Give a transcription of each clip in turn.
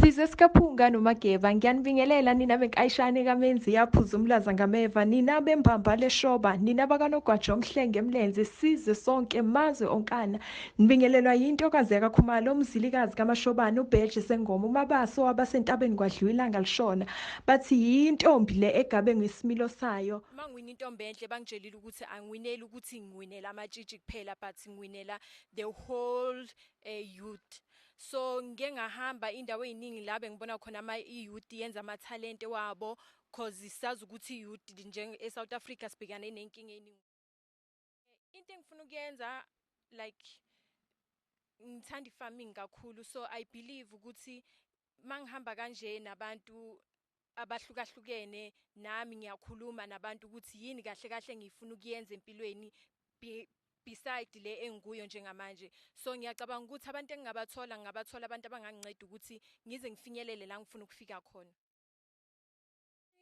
size sikaphunga nomageba ngiyanibingelela nina benkayishane kamenzi yaphuza umlaza ngameva nina bembamba leshoba nina bakanogwaja omhlenge emlenze size sonke mazwe onkana nibingelelwa yintokazi yakakhumalo umzilikazi kamashobane ubheje sengoma umabaso wabasentabeni kwadliwa ilanga lishona bathi yintombi le egabe ngesimilo sayo mangiwina intombi enhle bangitshelile ukuthi angiwineli ukuthi ngiwinela amatshitshi kuphela but ngiwinela the whole e youth so ngike ngahamba indawo eziningi la bengibona khona ama i youth yenza ama talent wabo cause sazi ukuthi youth nje e South Africa sibhekane nenkinga eziningi into engifuna ukuyenza like ngithanda farming kakhulu so i believe ukuthi mangihamba kanje nabantu abahlukahlukene nami ngiyakhuluma nabantu ukuthi yini kahle kahle ngifuna ukuyenza empilweni beside le engikuyo njengamanje so ngiyacabanga ukuthi abantu engingabathola ngingabathola abantu abanganginceda ukuthi ngize ngifinyelele la ngifuna ukufika khona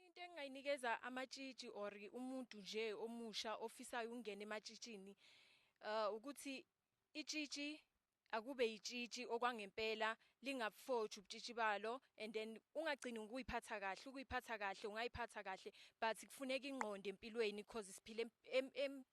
into engingayinikeza amatshitshi or umuntu nje omusha ofisayo ukungena ematshitshini uh ukuthi itshitshi akube yitshitshi okwangempela lingabufotshi ubutshitshi balo and then ungagcini ngokuyiphatha kahle ukuyiphatha kahle ungayiphatha kahle but kufuneka ingqondo empilweni cause siphila em, em, em,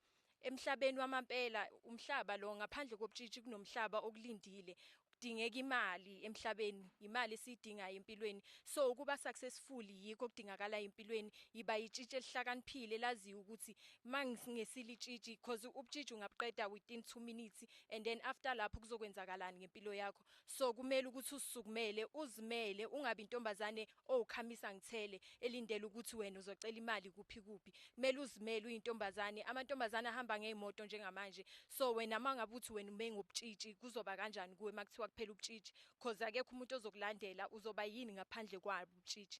emhlabeni wamampela umhlaba lo ngaphandle kobutshitshi kunomhlaba okulindile kudingeka imali emhlabeni imali esiyidingayo empilweni so ukuba successful yikho kudingakala empilweni yiba yitshitshi elihlakaniphile laziyo ukuthi mangisingesile itshitshi because ubutshitshi ungabuqeda within 2 minutes and then after lapho kuzokwenzakalani ngempilo yakho so kumele ukuthi usukumele uzimele ungabi intombazane owukhamisa ngithele elindele ukuthi wena uzocela imali kuphi kuphi kumele uzimele uyintombazane amantombazane ahamba ngeimoto njengamanje so wena mangabe uthi wena ume ngobutshitshi kuzoba kanjani kuwe makuthiwa kuphela ubutshitshi cause akekho umuntu ozokulandela uzoba yini ngaphandle kwabo ubutshitshi